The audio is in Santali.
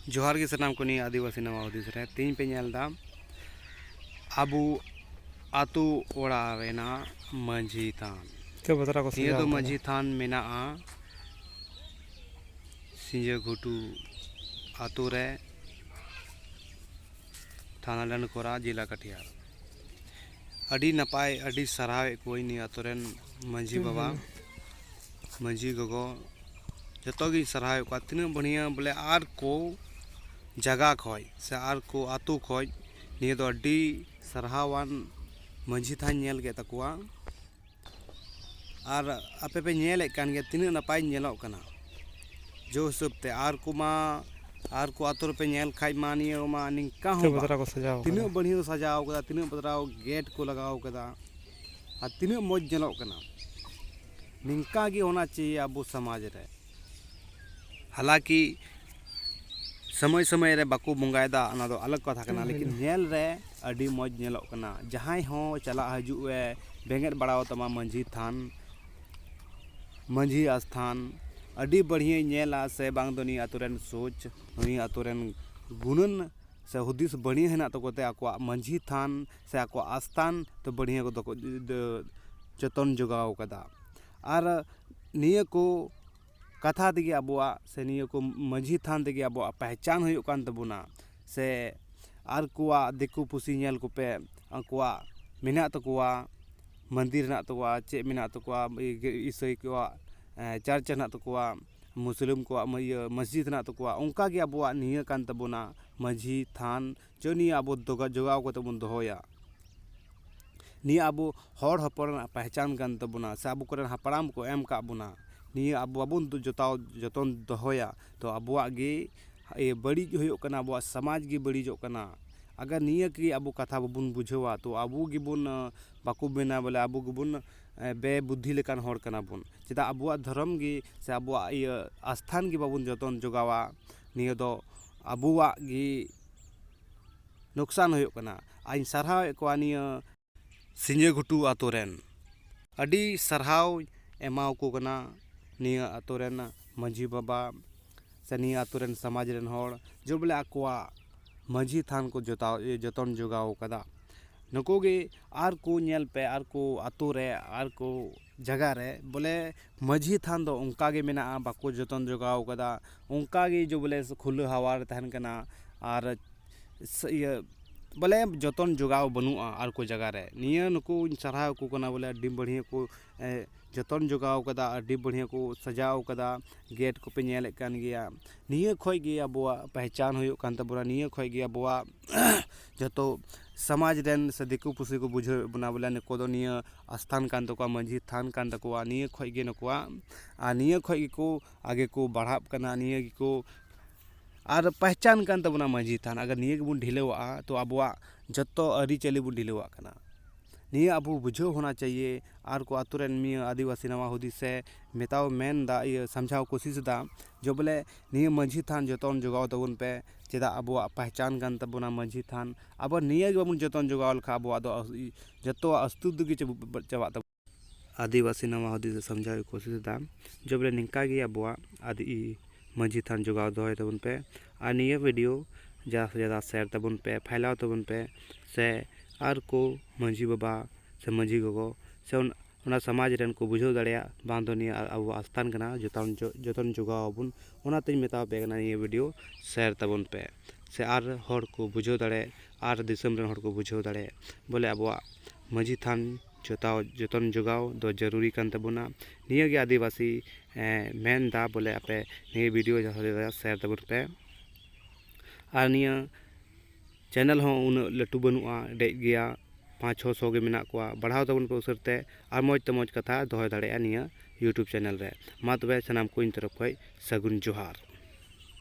ᱡᱚᱦᱟᱨ ᱜᱮ ᱥᱟᱱᱟᱢ ᱠᱚ ᱱᱤᱭᱟᱹ ᱟᱹᱫᱤᱵᱟᱹᱥᱤ ᱱᱟᱣᱟ ᱦᱩᱫᱤᱥ ᱨᱮ ᱛᱮᱦᱮᱧ ᱯᱮ ᱧᱮᱞ ᱮᱫᱟ ᱟᱵᱚ ᱟᱛᱳ ᱚᱲᱟᱜ ᱨᱮᱱᱟᱜ ᱢᱟᱺᱡᱷᱤ ᱛᱷᱟᱱ ᱱᱤᱭᱟᱹ ᱫᱚ ᱢᱟᱺᱡᱷᱤ ᱛᱷᱟᱱ ᱢᱮᱱᱟᱜᱼᱟ ᱥᱤᱸᱡᱟᱹ ᱜᱷᱩᱴᱩ ᱟᱛᱳ ᱨᱮ ᱛᱷᱟᱱᱟ ᱰᱟᱱᱰᱠᱚᱨᱟ ᱡᱮᱞᱟ ᱠᱟᱴᱤᱦᱟᱨ ᱟᱹᱰᱤ ᱱᱟᱯᱟᱭ ᱟᱹᱰᱤ ᱥᱟᱨᱦᱟᱣᱮᱫ ᱠᱚᱣᱟᱹᱧ ᱱᱤᱭᱟᱹ ᱟᱛᱳ ᱨᱮᱱ ᱢᱟᱺᱡᱷᱤ ᱵᱟᱵᱟ ᱢᱟᱹᱡᱷᱤ ᱜᱚᱜᱚ ᱡᱚᱛᱚ ᱜᱤᱧ ᱥᱟᱨᱦᱟᱣᱮᱫ ᱠᱚᱣᱟ ᱛᱤᱱᱟᱹᱜ ᱵᱟᱹᱲᱤᱭᱟᱹ ᱵᱚᱞᱮ ᱟᱨ ᱠᱚ ᱡᱟᱭᱜᱟ ᱠᱷᱚᱡ ᱥᱮ ᱟᱨ ᱠᱚ ᱟᱛᱳ ᱠᱷᱚᱡ ᱱᱤᱭᱟᱹ ᱫᱚ ᱟᱹᱰᱤ ᱥᱟᱨᱦᱟᱣᱟᱱ ᱢᱟᱹᱡᱷᱤ ᱛᱷᱟᱱ ᱧᱮᱞ ᱠᱮᱫ ᱛᱟᱠᱚᱣᱟ ᱟᱨ ᱟᱯᱮ ᱯᱮ ᱧᱮᱞᱮᱫ ᱠᱟᱱ ᱜᱮᱭᱟ ᱛᱤᱱᱟᱹᱜ ᱱᱟᱯᱟᱭ ᱧᱮᱞᱚᱜ ᱠᱟᱱᱟ ᱡᱮ ᱦᱤᱥᱟᱹᱵ ᱛᱮ ᱟᱨ ᱠᱚᱢᱟ ᱟᱨ ᱠᱚ ᱟᱛᱳ ᱨᱮᱯᱮ ᱧᱮᱞ ᱠᱷᱟᱡ ᱢᱟ ᱱᱤᱭᱟᱹ ᱢᱟ ᱱᱤᱝᱠᱟ ᱦᱚᱸ ᱵᱟᱝ ᱛᱤᱱᱟᱹᱜ ᱵᱟᱹᱲᱤᱭᱟᱹ ᱠᱚ ᱥᱟᱡᱟᱣ ᱠᱟᱫᱟ ᱛᱤᱱᱟᱹᱜ ᱵᱟᱛᱨᱟᱣ ᱜᱮᱴ ᱠᱚ ᱞᱟᱜᱟᱣ ᱠᱟᱫᱟ ᱟᱨ ᱛᱤᱱᱟᱹᱜ ᱢᱚᱡᱽ ᱧᱮᱞᱚᱜ ᱠᱟᱱᱟ ᱱᱤᱝᱠᱟ ᱜᱮ ᱦᱳᱱᱟ ᱪᱟᱦᱤᱭᱮ ᱟᱵᱚ ᱥᱚᱢᱟᱡᱽ ᱨᱮ ᱦᱟᱞᱟᱠᱤ ᱥᱚᱢᱚᱭ ᱥᱚᱢᱚᱭ ᱨᱮ ᱵᱟᱠᱚ ᱵᱚᱸᱜᱟᱭᱮᱫᱟ ᱚᱱᱟ ᱫᱚ ᱟᱞᱟᱜᱽ ᱠᱟᱛᱷᱟ ᱠᱟᱱᱟ ᱞᱮᱠᱤᱱ ᱧᱮᱞ ᱨᱮ ᱟᱹᱰᱤ ᱢᱚᱡᱽ ᱧᱮᱞᱚᱜ ᱠᱟᱱᱟ ᱡᱟᱦᱟᱸᱭ ᱦᱚᱸ ᱪᱟᱞᱟᱜ ᱦᱤᱡᱩᱜ ᱮ ᱵᱮᱸᱜᱮᱫ ᱵᱟᱲᱟᱣᱟᱛᱟᱢᱟ ᱢᱟᱹᱡᱷᱤ ᱛᱷᱟᱱ ᱢᱟᱹᱡᱷᱤ ᱟᱥᱛᱷᱟᱱ ᱟᱹᱰᱤ ᱵᱟᱹᱲᱦᱤᱭᱟᱹᱭ ᱧᱮᱞᱟ ᱥᱮ ᱵᱟᱝ ᱫᱚ ᱱᱤᱭᱟᱹ ᱟᱹᱛᱩ ᱨᱮᱱ ᱥᱳᱪ ᱱᱤᱭᱟᱹ ᱟᱹᱛᱩ ᱨᱮᱱ ᱜᱩᱱᱟᱹᱱ ᱥᱮ ᱦᱩᱫᱤᱥ ᱵᱟᱹᱲᱤᱭᱟᱹ ᱦᱮᱱᱟᱜ ᱛᱟᱠᱚ ᱛᱮ ᱟᱠᱚᱣᱟᱜ ᱢᱟᱹᱡᱷᱤ ᱛᱷᱟᱱ ᱥᱮ ᱟᱠᱚᱣᱟᱜ ᱟᱥᱛᱷᱟᱱ ᱫᱚ ᱵᱟᱹᱲᱭᱟᱹ ᱠᱚᱫᱚ ᱠᱚ ᱡᱚᱛᱚᱱ ᱡᱚᱜᱟᱣ ᱠᱟᱫᱟ ᱟᱨ ᱱᱤᱭᱟᱹ ᱠᱚ ᱠᱟᱛᱷᱟ ᱛᱮᱜᱮ ᱟᱵᱚᱣᱟᱜ ᱥᱮ ᱱᱤᱭᱟᱹ ᱠᱚ ᱢᱟᱹᱡᱷᱤ ᱛᱷᱟᱱ ᱛᱮᱜᱮ ᱟᱵᱚᱣᱟᱜ ᱯᱮᱦᱪᱟᱱ ᱦᱩᱭᱩᱜ ᱠᱟᱱ ᱛᱟᱵᱚᱱᱟ ᱥᱮ ᱟᱨ ᱠᱚᱣᱟᱜ ᱫᱤᱠᱩ ᱯᱩᱥᱤ ᱧᱮᱞ ᱠᱚᱯᱮ ᱟᱠᱚᱣᱟᱜ ᱢᱮᱱᱟᱜ ᱛᱟᱠᱚᱣᱟ ᱢᱚᱱᱫᱤᱨ ᱦᱮᱱᱟᱜ ᱛᱟᱠᱚᱣᱟ ᱪᱮᱫ ᱢᱮᱱᱟᱜ ᱛᱟᱠᱚᱣᱟ ᱤᱥᱟᱹᱭ ᱠᱚᱣᱟᱜ ᱪᱟᱨᱪ ᱦᱮᱱᱟᱜ ᱛᱟᱠᱚᱣᱟ ᱢᱩᱥᱞᱟᱹ ᱠᱚᱣᱟᱜ ᱢᱟᱹᱡᱷᱤ ᱦᱮᱱᱟᱜ ᱛᱟᱠᱚᱣᱟ ᱚᱱᱠᱟᱜᱮ ᱟᱵᱚᱣᱟᱜ ᱱᱤᱭᱟᱹ ᱠᱟᱱ ᱛᱟᱵᱚᱱᱟ ᱢᱟᱹᱡᱷᱤ ᱛᱷᱟᱱ ᱡᱮ ᱱᱤᱭᱟᱹ ᱟᱵᱚ ᱡᱚᱜᱟᱣ ᱠᱟᱛᱮ ᱵᱚᱱ ᱫᱚᱦᱚᱭᱟ ᱱᱤᱭᱟᱹ ᱟᱵᱚ ᱦᱚᱲ ᱦᱚᱯᱚᱱ ᱨᱮᱱᱟᱜ ᱯᱮᱦᱪᱟᱱ ᱠᱟᱱ ᱛᱟᱵᱚᱱᱟ ᱥᱮ ᱟᱵᱚ ᱠᱚᱨᱮᱱ ᱦᱟᱯᱲᱟᱢ ᱠᱚ ᱮᱢ ᱠᱟᱜ ᱵᱚᱱᱟ ᱱᱤᱭᱟᱹ ᱟᱵᱚ ᱵᱟᱵᱚᱱ ᱡᱚᱛᱟᱣ ᱡᱚᱛᱚᱱ ᱫᱚᱦᱚᱭᱟ ᱛᱚ ᱟᱵᱚᱣᱟᱜ ᱜᱮ ᱵᱟᱹᱲᱤᱡ ᱦᱩᱭᱩᱜ ᱠᱟᱱᱟ ᱟᱵᱚᱣᱟᱜ ᱥᱚᱢᱟᱡᱽ ᱜᱮ ᱵᱟᱹᱲᱤᱡᱚᱜ ᱠᱟᱱᱟ ᱟᱜᱟᱨ ᱱᱤᱭᱟᱹ ᱠᱤ ᱟᱵᱚ ᱠᱟᱛᱷᱟ ᱵᱟᱵᱚᱱ ᱵᱩᱡᱷᱟᱹᱣᱟ ᱛᱚ ᱟᱵᱚ ᱜᱮᱵᱚᱱ ᱵᱟᱠᱚ ᱢᱮᱱᱟ ᱵᱚᱞᱮ ᱟᱵᱚ ᱜᱮᱵᱚᱱ ᱵᱮ ᱵᱩᱫᱽᱫᱷᱤ ᱞᱮᱠᱟᱱ ᱦᱚᱲ ᱠᱟᱱᱟ ᱵᱚᱱ ᱪᱮᱫᱟᱜ ᱟᱵᱚᱣᱟᱜ ᱫᱷᱚᱨᱚᱢ ᱜᱮ ᱥᱮ ᱟᱵᱚᱣᱟᱜ ᱤᱭᱟᱹ ᱟᱥᱛᱷᱟᱱ ᱜᱮ ᱵᱟᱵᱚᱱ ᱡᱚᱛᱚᱱ ᱡᱚᱜᱟᱣᱟ ᱱᱤᱭᱟᱹ ᱫᱚ ᱟᱵᱚᱣᱟᱜ ᱜᱮ ᱞᱳᱠᱥᱟᱱ ᱦᱩᱭᱩᱜ ᱠᱟᱱᱟ ᱟᱨᱤᱧ ᱥᱟᱨᱦᱟᱣᱮᱫ ᱠᱚᱣᱟ ᱱᱤᱭᱟᱹ ᱥᱤᱧᱡᱟᱹ ᱜᱷᱩᱴᱩ ᱟᱹᱛᱩ ᱨᱮᱱ ᱟᱹᱰᱤ ᱥᱟᱨᱦᱟᱣ ᱮᱢᱟᱣᱟᱠᱚ ᱠᱟᱱᱟ ᱱᱤᱭᱟᱹ ᱟᱹᱛᱩ ᱨᱮᱱ ᱢᱟᱹᱡᱷᱤ ᱵᱟᱵᱟ ᱥᱮ ᱱᱤᱭᱟᱹ ᱟᱹᱛᱩ ᱨᱮᱱ ᱥᱚᱢᱟᱡᱽ ᱨᱮᱱ ᱦᱚᱲ ᱡᱮ ᱵᱚᱞᱮ ᱟᱠᱚᱣᱟᱜ ᱢᱟᱹᱡᱷᱤ ᱛᱷᱟᱱ ᱠᱚ ᱡᱚᱛᱟᱣ ᱡᱚᱛᱚᱱ ᱡᱚᱜᱟᱣ ᱠᱟᱫᱟ ᱱᱩᱠᱩ ᱜᱮ ᱟᱨ ᱠᱚ ᱧᱮᱞ ᱯᱮ ᱟᱨ ᱠᱚ ᱟᱹᱛᱩ ᱨᱮ ᱟᱨ ᱠᱚ ᱡᱟᱭᱜᱟ ᱨᱮ ᱵᱚᱞᱮ ᱢᱟᱹᱡᱷᱤ ᱛᱷᱟᱱ ᱫᱚ ᱚᱱᱠᱟ ᱜᱮ ᱢᱮᱱᱟᱜᱼᱟ ᱵᱟᱠᱚ ᱡᱚᱛᱚᱱ ᱡᱚᱜᱟᱣ ᱠᱟᱫᱟ ᱚᱱᱠᱟ ᱜᱮ ᱡᱮ ᱵᱚᱞᱮ ᱠᱷᱩᱞᱟᱹ ᱦᱟᱣᱟ ᱨᱮ ᱛᱟᱦᱮᱱ ᱠᱟᱱᱟ ᱟᱨ ᱤᱭᱟᱹ ᱵᱚᱞᱮ ᱡᱚᱛᱚᱱ ᱡᱚᱜᱟᱣ ᱵᱟᱹᱱᱩᱜᱼᱟ ᱟᱨ ᱠᱚ ᱡᱟᱭᱜᱟ ᱨᱮ ᱱᱤᱭᱟᱹ ᱱᱩᱠᱩᱧ ᱥᱟᱨᱦᱟᱣ ᱠᱚ ᱠᱟᱱᱟ ᱵᱚᱞᱮ ᱟᱹᱰᱤ ᱵᱟᱹᱲᱦᱭᱟᱹ ᱠᱚ ᱡᱚᱛᱚᱱ ᱡᱚᱜᱟᱣ ᱠᱟᱫᱟ ᱟᱹᱰᱤ ᱵᱟᱹᱲᱦᱭᱟᱹ ᱠᱚ ᱥᱟᱡᱟᱣ ᱠᱟᱫᱟ ᱜᱮᱹᱴ ᱠᱚᱯᱮ ᱧᱮᱞᱮᱫ ᱠᱟᱱ ᱜᱮᱭᱟ ᱱᱤᱭᱟᱹ ᱠᱷᱚᱡ ᱜᱮ ᱟᱵᱚᱣᱟᱜ ᱯᱮᱦᱪᱟᱱ ᱦᱩᱭᱩᱜ ᱠᱟᱱ ᱛᱟᱵᱚᱱᱟ ᱱᱤᱭᱟᱹ ᱠᱷᱚᱡ ᱜᱮ ᱟᱵᱚᱣᱟᱜ ᱡᱚᱛᱚ ᱥᱚᱢᱟᱡᱽ ᱨᱮᱱ ᱥᱮ ᱫᱤᱠᱩ ᱯᱩᱥᱤ ᱠᱚ ᱵᱩᱡᱷᱟᱹᱣᱮᱫ ᱵᱚᱱᱟ ᱵᱚᱞᱮ ᱱᱩᱠᱩ ᱫᱚ ᱱᱤᱭᱟᱹ ᱟᱥᱛᱷᱟᱱ ᱠᱟᱱ ᱛᱟᱠᱚᱣᱟ ᱢᱟᱹᱡᱷᱤ ᱛᱷᱟᱱ ᱠᱟᱱ ᱛᱟᱠᱚᱣᱟ ᱱᱤᱭᱟᱹ ᱠᱷᱚᱡ ᱜᱮ ᱱᱩᱠᱩᱣᱟᱜ ᱟᱨ ᱱᱤᱭᱟᱹ ᱠᱷᱚᱡ ᱜᱮᱠᱚ ᱟᱜᱮ ᱠᱚ ᱵᱟᱲᱦᱟᱜ ᱠᱟᱱᱟ ᱱᱤᱭᱟᱹ ᱜᱮᱠᱚ ᱟᱨ ᱯᱮᱦᱪᱟᱱ ᱠᱟᱱ ᱛᱟᱵᱚᱱᱟ ᱢᱟᱹᱡᱷᱤ ᱛᱷᱟᱱ ᱟᱜᱟᱨ ᱱᱤᱭᱟᱹ ᱜᱮᱵᱚᱱ ᱰᱷᱤᱞᱟᱹᱣ ᱟᱜᱼᱟ ᱛᱚ ᱟᱵᱚᱣᱟᱜ ᱡᱚᱛᱚ ᱟᱹᱨᱤᱪᱟᱹᱞᱤ ᱵᱚᱱ ᱰᱷᱤᱞᱟᱹᱣ ᱟᱜ ᱠᱟᱱᱟ ᱱᱤᱭᱟᱹ ᱟᱵᱚ ᱵᱩᱡᱷᱟᱹᱣ ᱦᱚᱱᱟ ᱪᱟᱭᱭᱮ ᱟᱨ ᱠᱚ ᱟᱛᱳ ᱨᱮᱱ ᱱᱤᱭᱟᱹ ᱟᱹᱫᱤᱵᱟᱹᱥᱤ ᱱᱟᱣᱟ ᱦᱩᱫᱤᱥ ᱥᱮ ᱢᱮᱛᱟᱣ ᱢᱮᱱᱫᱟ ᱤᱭᱟᱹ ᱥᱟᱢᱡᱷᱟᱣ ᱠᱳᱥᱤᱥ ᱫᱟ ᱡᱮ ᱵᱚᱞᱮ ᱱᱤᱭᱟᱹ ᱢᱟᱹᱡᱷᱤ ᱛᱷᱟᱱ ᱡᱚᱛᱚᱱ ᱡᱚᱜᱟᱣ ᱛᱟᱵᱚᱱ ᱯᱮ ᱪᱮᱫᱟᱜ ᱟᱵᱚᱣᱟᱜ ᱯᱮᱦᱪᱟᱱ ᱠᱟᱱ ᱛᱟᱵᱚᱱᱟ ᱢᱟᱹᱡᱷᱤ ᱛᱷᱟᱱ ᱟᱵᱚ ᱱᱤᱭᱟᱹ ᱜᱮ ᱵᱟᱵᱚᱱ ᱡᱚᱛᱚᱱ ᱡᱚᱜᱟᱣ ᱞᱮᱠᱷᱟᱱ ᱟᱵᱚᱣᱟᱜ ᱫᱚ ᱡᱚᱛᱚᱣᱟᱜ ᱚᱥᱛᱤᱛᱛᱚ ᱜᱮ ᱪᱟᱵᱟᱜ ᱛᱟᱵᱚᱱᱟ ᱟᱹᱫᱤᱵᱟᱹᱥᱤ ᱱᱚᱣᱟ ᱦᱩᱫᱤᱥ ᱮ ᱥᱟᱢᱡᱷᱟᱣ ᱠᱚᱥᱤᱥ ᱮᱫᱟ ᱡᱮ ᱵᱚᱞᱮ ᱱᱤᱝᱠᱟ ᱜᱮ ᱟᱵᱚᱣᱟᱜ ᱟᱫᱚ ᱢᱟᱹᱡᱷᱤ ᱛᱷᱟᱱ ᱡᱚᱜᱟᱣ ᱫᱚᱦᱚᱭ ᱛᱟᱵᱚᱱ ᱯᱮ ᱟᱨ ᱱᱤᱭᱟᱹ ᱵᱷᱤᱰᱤᱭᱳ ᱡᱟᱫᱟ ᱥᱮ ᱡᱟᱫᱟ ᱥᱮᱭᱟᱨ ᱛᱟᱵᱚᱱ ᱯᱮ ᱯᱷᱟᱭᱞᱟᱣ ᱛᱟᱵᱚᱱ ᱯᱮ ᱥᱮ ᱟᱨ ᱠᱚ ᱢᱟᱹᱡᱷᱤ ᱵᱟᱵᱟ ᱥᱮ ᱢᱟᱹᱡᱷᱤ ᱜᱚᱜᱚ ᱥᱮ ᱚᱱᱟ ᱥᱚᱢᱟᱡᱽ ᱨᱮᱱ ᱠᱚ ᱵᱩᱡᱷᱟᱹᱣ ᱫᱟᱲᱮᱭᱟᱜ ᱵᱟᱝ ᱫᱚ ᱱᱤᱭᱟᱹ ᱟᱵᱚᱣᱟᱜ ᱟᱥᱛᱷᱟᱱ ᱠᱟᱱᱟ ᱡᱚᱛᱚᱱ ᱡᱚᱛᱚᱱ ᱡᱚᱜᱟᱣ ᱟᱵᱚᱱ ᱚᱱᱟᱛᱮᱧ ᱢᱮᱛᱟ ᱯᱮ ᱠᱟᱱᱟ ᱱᱤᱭᱟᱹ ᱵᱷᱤᱰᱭᱳ ᱥᱮᱭᱟᱨ ᱛᱟᱵᱚᱱ ᱯᱮ ᱥᱮ ᱟᱨ ᱦᱚᱲ ᱠᱚ ᱵᱩᱡᱷᱟᱹᱣ ᱫᱟᱲᱮ ᱟᱨ ᱫᱤᱥᱚᱢ ᱨᱮᱱ ᱦᱚᱲ ᱠᱚ ᱵᱩᱡᱷᱟᱹᱣ ᱫᱟᱲᱮ ᱵᱚᱞᱮ ᱟᱵᱚᱣᱟᱜ ᱢᱟᱹᱡᱷᱤ ᱛᱷᱟᱱ ᱡᱚᱛᱟᱣ ᱡᱚᱛᱚᱱ ᱡᱚᱜᱟᱣ ᱫᱚ ᱡᱟᱹᱨᱩᱨᱤ ᱠᱟᱱ ᱛᱟᱵᱚᱱᱟ ᱱᱤᱭᱟᱹ ᱜᱮ ᱟᱹᱫᱤᱵᱟᱹᱥᱤ ᱢᱮᱱ ᱮᱫᱟ ᱵᱚᱞᱮ ᱟᱯᱮ ᱱᱤᱭᱟᱹ ᱵᱷᱤᱰᱭᱳ ᱡᱟᱦᱟᱸ ᱛᱤᱱᱟᱹᱜ ᱥᱮᱭᱟᱨ ᱛᱟᱵᱚᱱ ᱯᱮ ᱟᱨ ᱱᱤᱭᱟᱹ ᱪᱮᱱᱮᱞ ᱦᱚᱸ ᱩᱱᱟᱹᱜ ᱞᱟᱹᱴᱩ ᱵᱟᱹᱱᱩᱜᱼᱟ ᱰᱮᱡ ᱜᱮᱭᱟ ᱯᱟᱸᱪ ᱪᱷᱚ ᱥᱚ ᱜᱮ ᱢᱮᱱᱟᱜ ᱠᱚᱣᱟ ᱵᱟᱲᱦᱟᱣ ᱛᱟᱵᱚᱱ ᱯᱮ ᱩᱥᱟᱹᱨᱟ ᱛᱮ ᱟᱨ ᱢᱚᱡᱽ ᱛᱮ ᱢᱚᱡᱽ ᱠᱟᱛᱷᱟ ᱫᱚᱦᱚᱭ ᱫᱟᱲᱮᱭᱟᱜᱼᱟ ᱱᱤᱭᱟᱹ ᱤᱭᱩᱴᱩᱵᱽ ᱪᱮᱱᱮᱞ ᱨᱮ ᱢᱟ ᱛᱚᱵᱮ ᱥᱟᱱᱟᱢ ᱠᱚ ᱤᱧ ᱛᱚᱨᱚᱯᱷ ᱠᱷᱚᱡ ᱥᱟᱹᱜᱩᱱ ᱡᱚᱦᱟᱨ